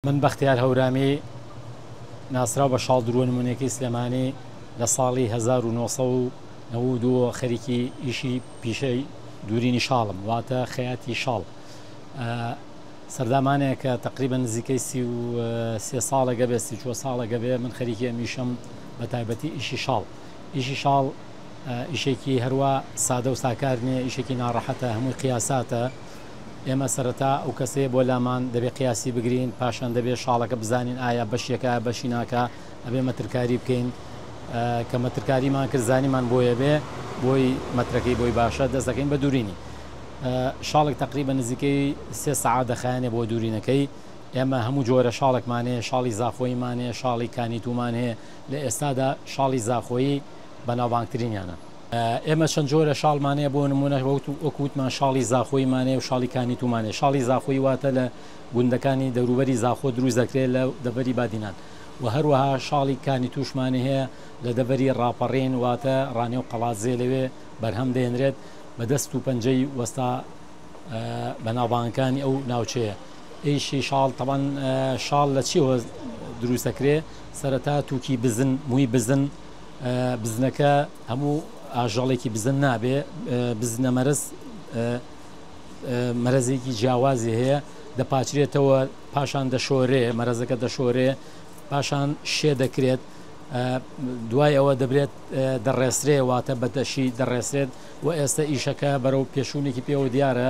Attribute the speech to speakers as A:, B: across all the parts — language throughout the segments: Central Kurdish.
A: من بەختیار هەورامی ناسراو بە شاڵ درووە نموونەیەکەی سلێمانی لە ساڵی هەزار و نۆ سەد و نەوەد و دوو خەریکی ئیشی پیشەی دوورینی شاڵم واتە خەیاتی شاڵ سەردامانەیە کە تقریبا نزیکەی سی و سێ ساڵەگە بێ سی چوە ساڵەگە بێ من خەریکی ئەمیشم بە تایبەتی ئیشی شاڵ ئیشی شاڵ ئیشێکی هەروە سادە و ساکار نییە ئیشێکی ناڕەحەتە هەمووی قیاساتە ئێمە سەرەتا ئەو کەسەیە بۆ لامان دەبێ قیاسی بگرین پاشان دەبێ شاڵەکە بزانین ئایا بەشێکە بەشی ناکا ئەبێ مەترکاری بکەین کە مەترکاریمان کرد زانیمان بۆیە بێ بۆی مەترەکەی بۆی باشە دەست دەکەین بە دوورینی شاڵک تقریبا نزیکەی سێ سعات دەخایانێ بۆ دوورینەکەی ئێمە هەموو جۆرە شاڵکمانێ شاڵی زاخۆیمانێ شاڵی کانیتومان هەیە لە ئێستادا شاڵی زاخۆیی بەناوبانگترینیانە ئێمە چەند جۆرە شاڵمان هەیە بۆ نمونە وەک وتمان شاڵی زاخۆی مانەیە و شاڵی کانی تومانێ شاڵی زاخۆی واتە لە گوندەکانی دەوروبەری زاخۆ دروست دەکرێت لە دەبەری بادینان و هەروەها شاڵی کانی توشمانە هەیە لە دەبەری ڕاپەڕین واتە ڕانێ و قەڵاتزێ لەوێ بەرهەم دێنرێت بە دەست و پەنجەی وەستا بەناوبانگەکانی ئەو ناوچەیە ئیشی شاڵ تەوان شاڵ لە چی دروست دەکرێت سەرەتا تووکی بزن مووی بزن بزنەکە هەموو ئاژەڵێکی بزن نابێ بزنە مەرز مەرزێکی جیاوازی هەیە دەپاچرێتەوە پاشان دەشۆرێ مەرزەکە دەشۆرێ پاشان شێ دەکرێت دوای ئەوە دەبرێت دەڕێسرێ واتە بەدەشی دەڕێسرێت و ئێستا ئیشەکە بەرەو پێشوونێکی پێوە دیارە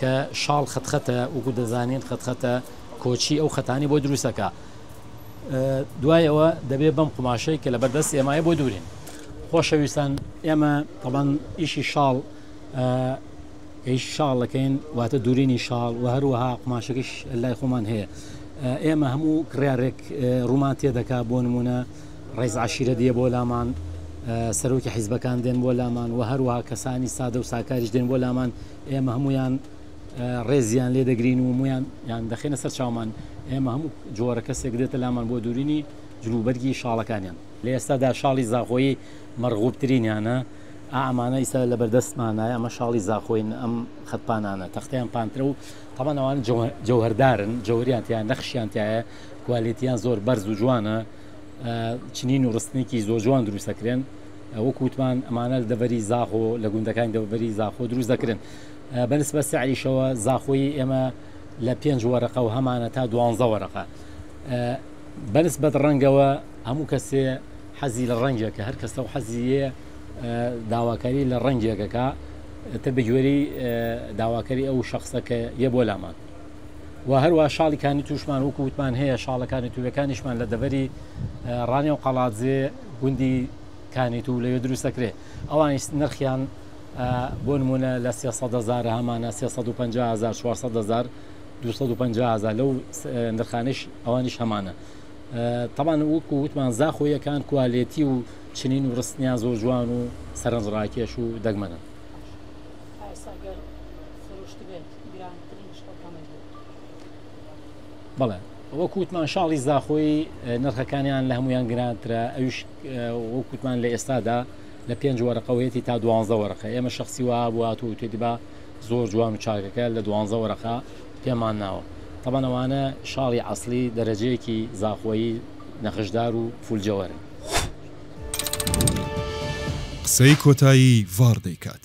A: کە شاڵ خەت خەتە وەکو دەزانین خەت خەتە کۆچی ئەو خەتانی بۆ دروستەکە دوای ئەوە دەبێت بەم قوماشەی کە لە بەردەست ئێمای بۆ دوورین خۆشەویستان ئێمە تەڵەن ئیشی شاڵ ئەیش شاڵەکەین واتە دوورینی شاڵ و هەروەها قوماشەکەش لای خۆمان هەیە ئێمە هەموو کڕارێک ڕوومان تێدەکا بۆ نمونە ڕێز عشیرە دیە بۆ لامان سەرۆکی حیزبەکان دێن بۆ لامان و هەروەها کەسانی سادە و ساکاریش دێن بۆ لامان ئێمە هەموویان ڕێزیان لێ دەگرین و مویان یان دەخێنە سەر چاومان ئێمە هەموو جۆرە کەسێک دێتە لامان بۆ دوورینی جلوبەرگی شاڵەکانیان لە ئێستادا شاڵی زاخۆیی مەرغوبترینیانە ئامانە ئیستا لە بەردەستمانە ئەمە شاڵی زاخۆین ئەم خەتپانانە تەختیان پانترە و تەمانەوان جەوهردارن جەوریان تیان نەخشیان تایە کوالێتیان زۆر بەرز و جوانە چنین و ڕستنێکی زۆر جوان دروستەکرێن وەکو وتمان ئەمانە دەڤەری زاخۆ لە گوندەکانی دەوەری زاخۆ دروست دەکرن بە نسبە سعریشەوە زاخۆی ئێمە لە پێنج وەرەقە و هەمانە تا دوانزە وەرەقە بەنسبەت ڕەنگەوە هەموو کەسێ حەزی لە ڕەنگێکە هەر کەسە و حەزیە داواکاری لە ڕەنگێکەکە تر بگوێری داواکاری ئەو شخصە کە یە بۆ لامان و هەروە شاڵیکانی توشمان وکووتمان هەیە شاڵەکانی توێەکانیشمان لە دەبەری ڕانێ و قەڵاتزێ گوندی کانیت و لەوێ دروست دەکرێت ئەوانیش نرخیان بۆ نمونە لە سێسەدەزارە هەمانە سێهزار 250هزار لەو نرخانش ئەوانیش هەمانە تەمان وەکو وتمان زاخۆیەکان کوالێتی و چنین و ڕستنیان زۆر جوان و سەرنج ڕاکێش و دەگمەنن بەڵێ وەک وتمان شاڵی زاخۆی نرخەکانیان لە هەمویان گرانترە ئەوش وەک وتمان لە ئێستادا لە پێنج وەرەقەوەیەتی تا دوانزە وەرەقە ئێمە شخصی وە بوات و تێدیبا زۆر جوان و چاکەکە لە دوانزە وەرەقە پێمان ناوە تەبەنەوانە شاڵی ئەاصلی دەرەجەیەکی زاخۆیی نەخشدار و فولجەوەرن.
B: قسەی کۆتایی ڤاڕ دەیکات.